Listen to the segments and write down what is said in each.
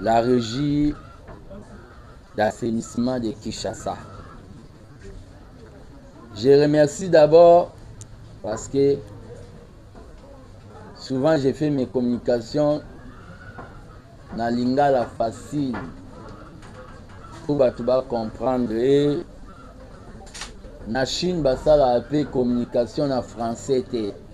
La régie d'assainissement de Kinshasa. Je remercie d'abord parce que souvent j'ai fait mes communications na lingala facile mpo bato bacomprendre ye na chine basalaka mpe communication na français te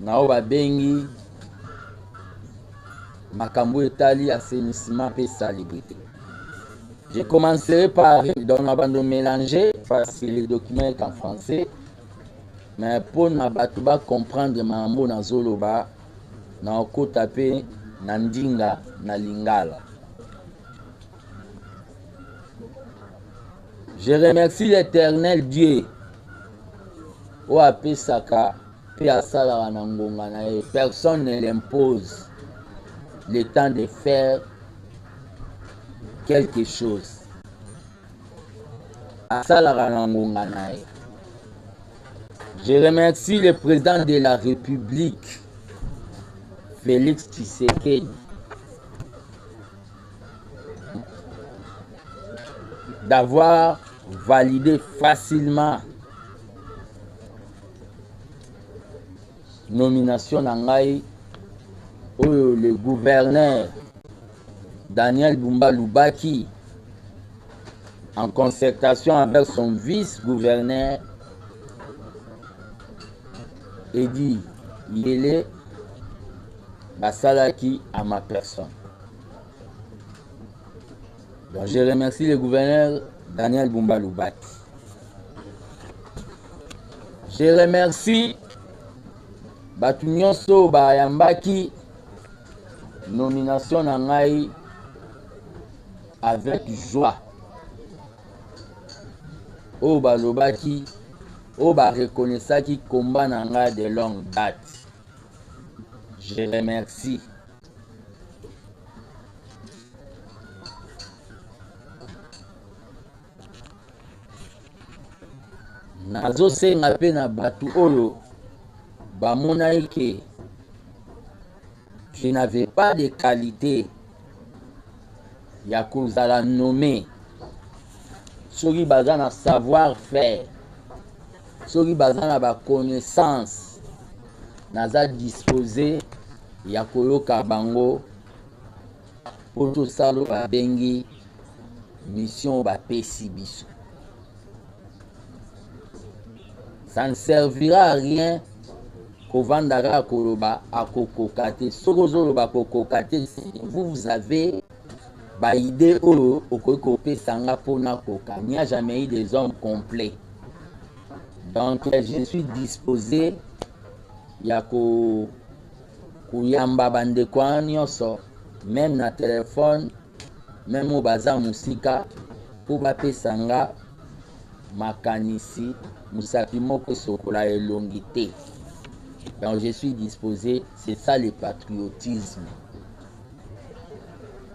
Na oyo babengi makambo etali assainissement pe salubrite. Je commencerai par donc na bando mélanger parce que le document est en français mais mpo na bato ba comprendre makambo nazoloba na okota pe na ndinga na lingala. Je remercie l'Éternel Dieu oyo apesaka mpe asalaka na ngonga na ye personne ne l'impose le temps de faire quelque chose asalaka na ngonga na ye je remercie le président de la république félix tshisekedi d'avoir validé facilement nomination na ngai oyo le gouverneur Daniel Bumba Lubaki en concertation avec son vice-gouverneur Eddy Yele basalaki à ma personne. Donc je remercie le gouverneur Daniel Bumba Loubati. Je remercie bato nyonso bayambaki nomination na ngai avec joie oyo balobaki oyo bareconnaissaki combat na ngai de longue date je remercie nazosenga mpe na bato oyo bamonaki ke je n'avais pas de qualité ya kozala nommé soki baza na savoir faire soki baza na baconnaissance naza dispose ya koyoka bango mpo tosala oyo babengi mission bapesi biso ça ne servira à rien kovanda kaka koloba akokoka te soki ozoloba akokoka te vous vous avez baide oyo okoki kopesa nga mpo nakoka n'y a jamais eu des hommes complets donc je suis disposé ya ko koyamba ba ndeko wana nionso meme na telephone meme oyo baza mosika mpo bapesa nga makanisi mosapi moko esokola elongi te donc je suis disposé c'est ça le patriotisme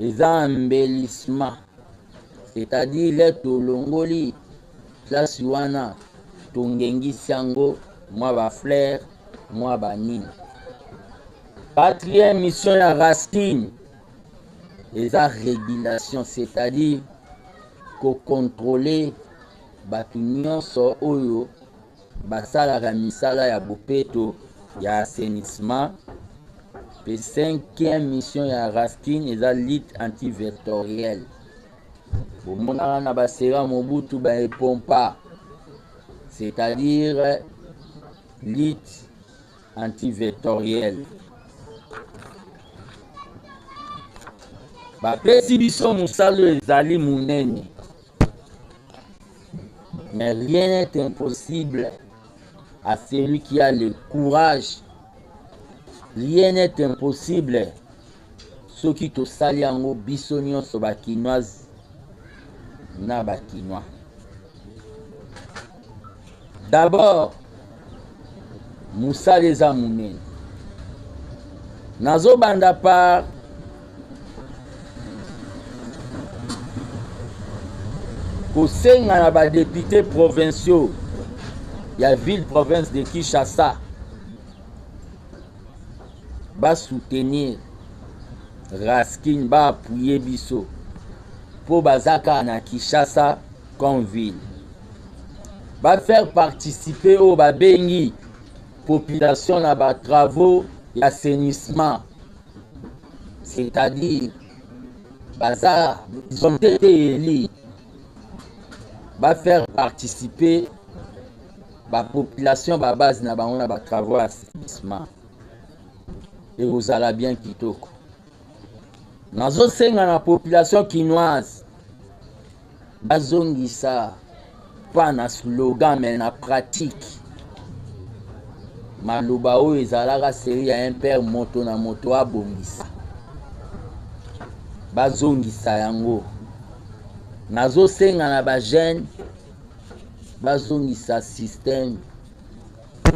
eza embellissement c'est à dire tolongoli place wana tongengisi yango mwa ba fleur mwa banini quatrième mission ya racine eza régulation c'est à dire kocontrole bato nyonso oyo basalaka misala ya bopeto ya assainissement mpe cinquième mission ya raskin eza lutte antivectorielle bomonaka na basera mobutu baepompa c'est-à-dire lutte antivectorielle bapesi biso mosala ezali monene Mais rien n'est impossible à celui qui a le courage. Rien n'est impossible. soki tosali yango biso nyonso bakinoise na bakinois D'abord, musala eza munene. Nazobanda par kosenga na ba députés provinciaux ya ville province de Kinshasa ba soutenir Raskin ba appuyer biso mpo baza kaka na Kinshasa Conville. Ba faire participer oyo babengi population na ba travaux ya assainissement. C'est-à-dire baza ils ont été élus ba faire participer ba population ba base na bango na ba travaux ya assainissement ekozala bien kitoko nazosenga na population kinoise Bazongisa pas na slogan mais na pratique. Maloba oyo ezalaka seri ya un père moto na moto abongisa. Bazongisa yango. Nazosenga na ba jeunes bazongisa système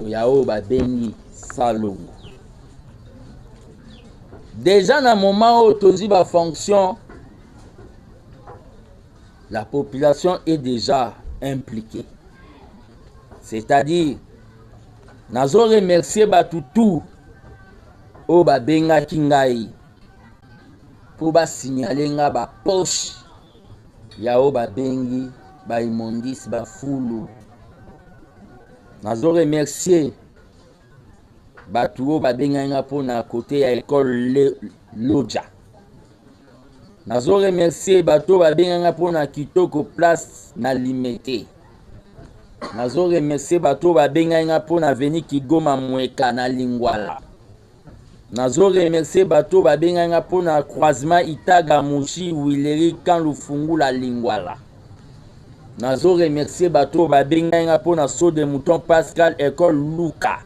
ya oyo babengi salongo deja na moment oyo tozwi bafonction la population est déjà impliquée. C'est-à-dire, nazo remercier bato tout oyo babengaki ngai mpo basignale nga bapoche ya oyo babengi baimondis bafulu nazo remercier Batu oyo babengaki nga mpo na kote ya ekole Lodja. Nazo remercier bato babengaki nga mpo na kitoko place na Limete. Nazo remercier bato babengaki nga mpo na avenue Kigoma Mweka na Lingwala. Nazo remercier bato babengaki nga mpo na croisement Itaga Mushi Wileri Kan Lufungula Lingwala. nazo remercier bato oyo babengai nga mpo na saut de mouton pascal ecole luka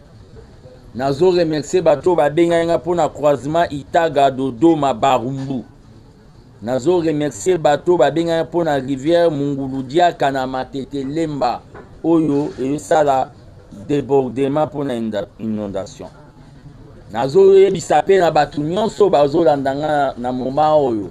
nazo remercier bato oyo babengai nga mpo na croisement itaga dodoma barumbu nazo remercier bato babengaki mpo na rivière mungulu diaka na matete lemba oyo esala debordement mpo na inondation nazoyebisa mpe na bato nyonso bazolanda nga na moma oyo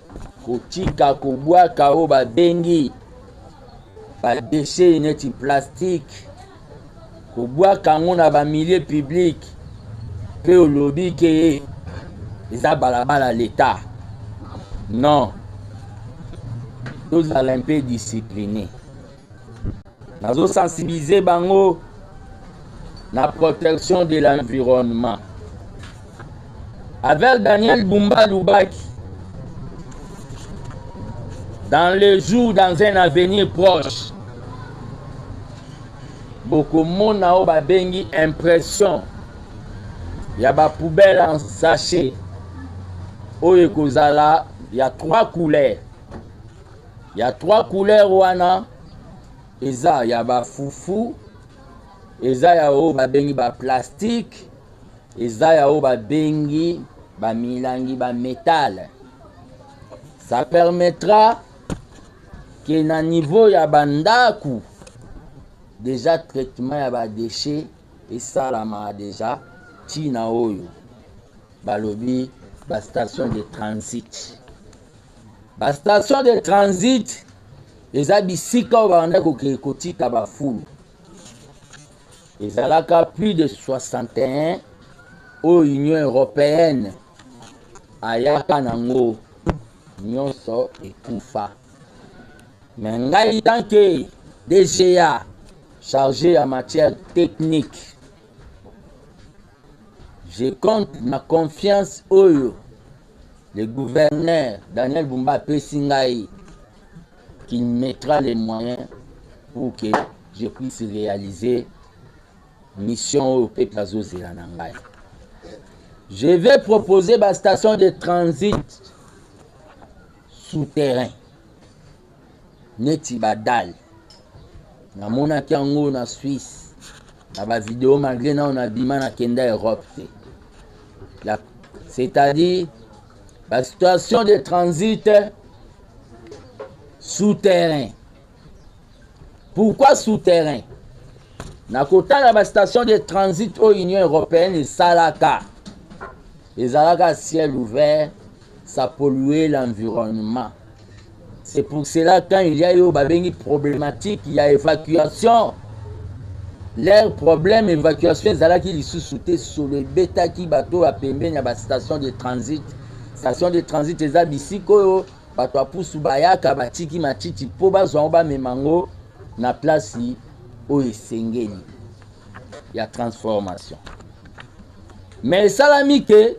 kotika kobwaka oyo babengi badeshe neti plastike kobwaka yango na bamilie publike mpe olobi ke eza balabala leta non tozala mpe discipline nazo sensibiliser bango na protection de l'environnement avec daniel bumba lubaki dans le jour dans un avenir proche bokomona oyo babengi impression ya bapoubele en sachet oyo ekozala ya trois couleurs Ya trois couleurs wana eza ya ba fufu, eza ya oyo babengi ba plastique, eza ya oyo babengi ba milangi ba metal. Ça permettra ke na niveau ya bandako deja traitement ya badeshe esalama deja ntina oyo balobi bastation de transit Ba station de transit eza bisika oyo babandaki kokee kotika bafulu ezalaka plus de 61 oyo union européenne ayaka nango nyonso ekufa me ngai tanke dga chargé ya matière technique je compte na confiance oyo Le gouverneur Daniel Bumba apesi ngai qu'il mettra les moyens pour que je puisse réaliser mission oyo peuple azozela na ngai je vais proposer bastation de transit souterrain neti ba dale namonaki yango na swisse na ba video malgre nao nabima na kenda europe te c'est-à-dire ba situation de transit souterrain pourquoi souterrain na kotala ba station de transit oyo union européenne esalaka Ezalaka ciel ouvert, ça pollue l'environnement. C'est pour cela quand il y a eu babengi problématique il y a évacuation. Leur problème évacuation ezalaki lisusu te solo ebetaki bato ya pembeni ya bastation de transit. Station de transit eza bisika oyo bato ya pusu bayaka batiki matiti mpo bazwa yango bamema yango na plasi oyo esengeli. ya transformation mais esalami ke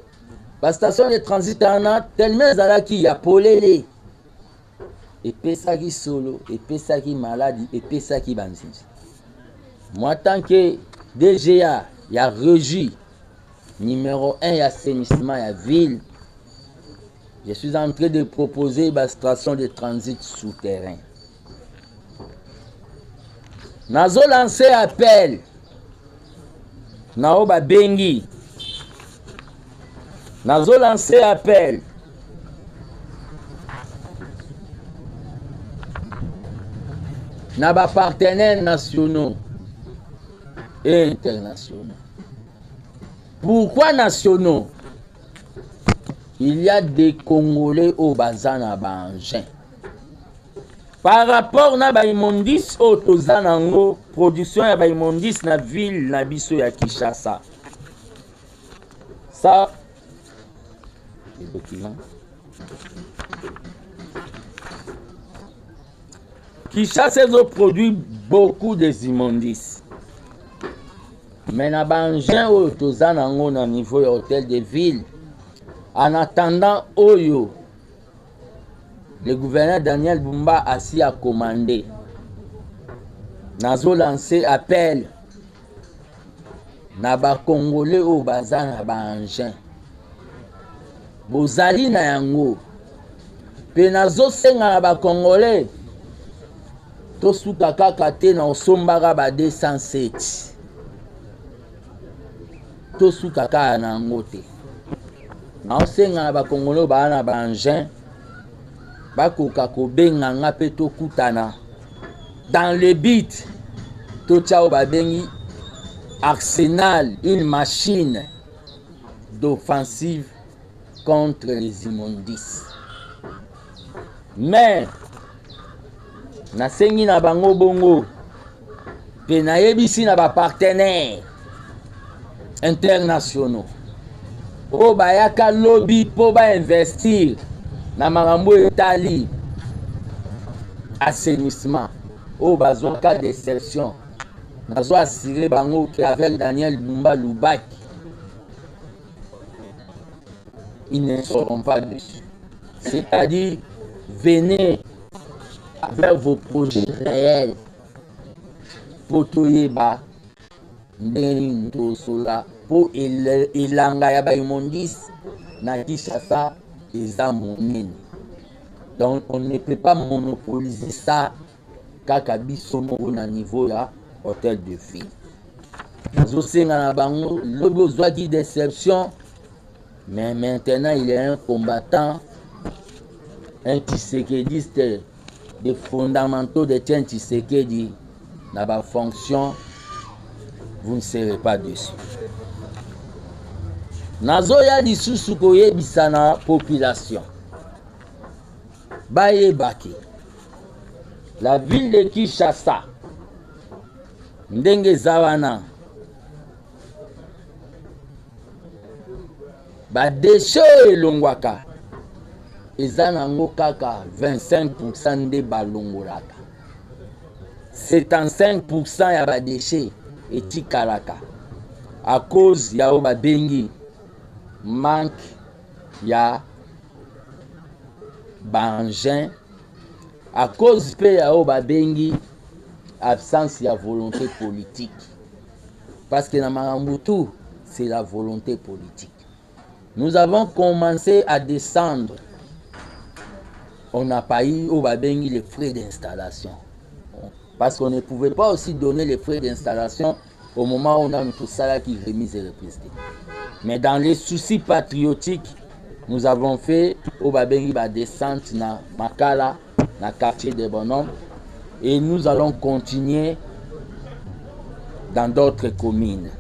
bastation de transit wana tellement ezalaki ya polele epesaki solo epesaki maladi epesaki banzinzi moi tant que dga ya regi numéro 1 ya assainissement ya ville je suis en train de proposer bastation de transit souterrain nazo lance appel na oyo babengi nazo lance appel na bapartenaires nationaux et internationaux pourquoi nationaux il y a des congolais oyo baza na baengin par rapport na baimmondice oyo toza na yango production ya baimmondice na ville na biso ya kinshasa sa kinshasa ezoproduit beaucoup des immondices mais na baengin oyo toza na yango na niveau ya hôtel de ville en attendant oyo Le gouverneur Daniel Bumba asi a commande. Nazo lancer appel na ba congolais oyo baza na ba engins. Bozali na yango. Pe nazo senga na ba congolais tosuka kaka te na osombaka ba 207. tosuka kaka na yango te naosenga na bakongolo baa na baengin bakoka kobenga nga mpe tokutana dans le but totya oyo babengi arsenal une machine d'offensive contre les immondices mais nasengi na bango bongo mpe nayebisi na bapartenaire internationaux oyo bayaka lobi mpo bainvestir na makambo etali assainissement oyo bazwaka deception nazo assure bango ke avec daniel bumba lubaki ils ne seront pas déçus. C'est-à-dire, venez avec vos projets réels pour toyeba ndenge nini tosola mpo elanga ya baimondise na kinshasa eza monene donc on ne peut pas monopoliser ça kaka biso moko na niveau ya hotel de ville nazosenga na bango lobi ozwaki deception mais maintenant il est un combattant un tshisekediste des fondamentaux de tien tshisekedi na bafonction vous ne serez pas dessus nazoya lisusu koyebisa na population Bayebaki la ville de Kinshasa ndenge eza wana badeshe oyo elongwaka eza nango kaka 25 pourcent nde balongolaka 75 pourcent ya badeshe etikalaka à cause ya oyo babengi manque ya ba engins à cause mpe ya oyo babengi absence ya volonté politique parce que na makambo tout c'est la volonté politique nous avons commencé à descendre on n'a pas eu oyo babengi les frais d'installation parce qu'on ne pouvait pas aussi donner les frais d'installation au moment oyo nanu tosalaki remise et reprise te mais dans les soucis patriotiques nous avons fait oyo babengi badescente na makala na quartier de bonhomme et nous allons continuer dans d'autres communes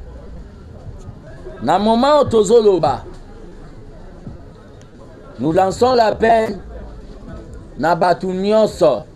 na moment oyo tozoloba nous lançons l'appel na bato nyonso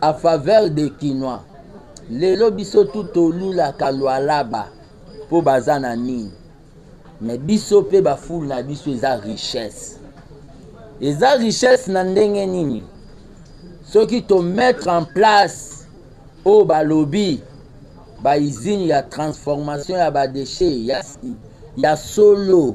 a faveur des kinois lelo biso tout tolulaka lualaba po baza na nini mais biso pe ba foule na biso eza richesse eza richesse na ndenge nini soki to mettre en place oyo balobi baizine ya transformation ya badeshe ya, ya solo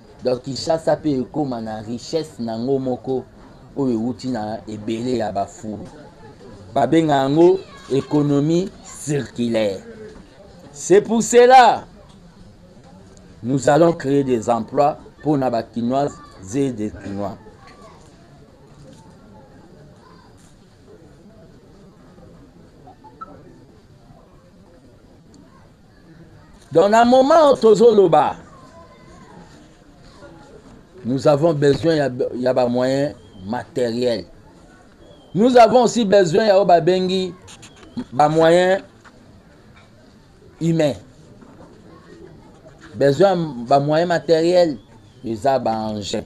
Donc Kinshasa pe ekoma na richesse na ngo moko oyo ewuti na ebele ya ba fulu. Babenga yango economie circulaire. C'est pour cela nous allons créer des emplois pour na ba kinoises et des kinois. Donc na moment oyo tozoloba nous avons besoin ya, ya ba moyens matériels. Nous avons aussi besoin ya oyo babengi ba moyens humains. Besoin ba moyens matériels eza ba engins.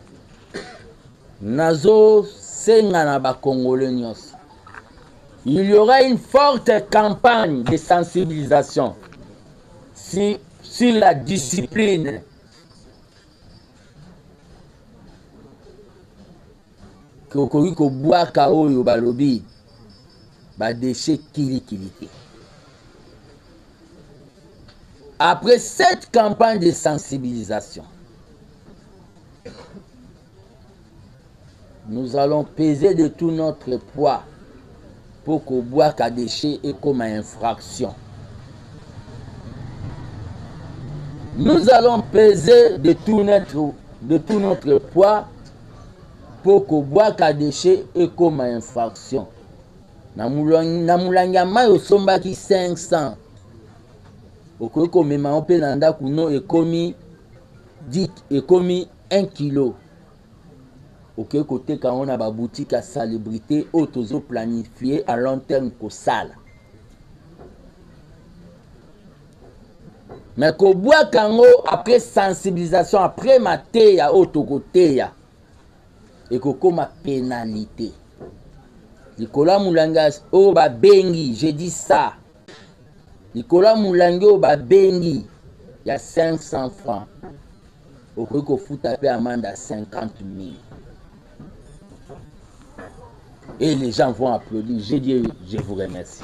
Nazo senga na ba congolais nyonso. Il y aura une forte campagne de sensibilisation si, sur la discipline okoki kobwaka oyo balobi badeshe kilikili te après cette campagne de sensibilisation nous allons peser de tout notre poids mpo kobwaka déchet ekoma infraction nous allons peser de tout notre, de tout notre poids mpo kobwaka déchet ekoma infraction na molangi ya mai osombaki 500 okoki komema yo mpe na ndako no ekomi Dit ekomi 1 kilo. Oke koteka yango na ba boutique ya salubrite oyo tozo planifier à long terme kosala. Mais kobwaka yango après sensibilisation après mateya oyo tokoteya ekokoma penalite likolo ya molanga oyo babengi je dis ça likolo ya molangi oyo babengi ya 500 franc okoki kofuta mpe amande ya 50 000 et les gens vont applaudir je dis je vous remercie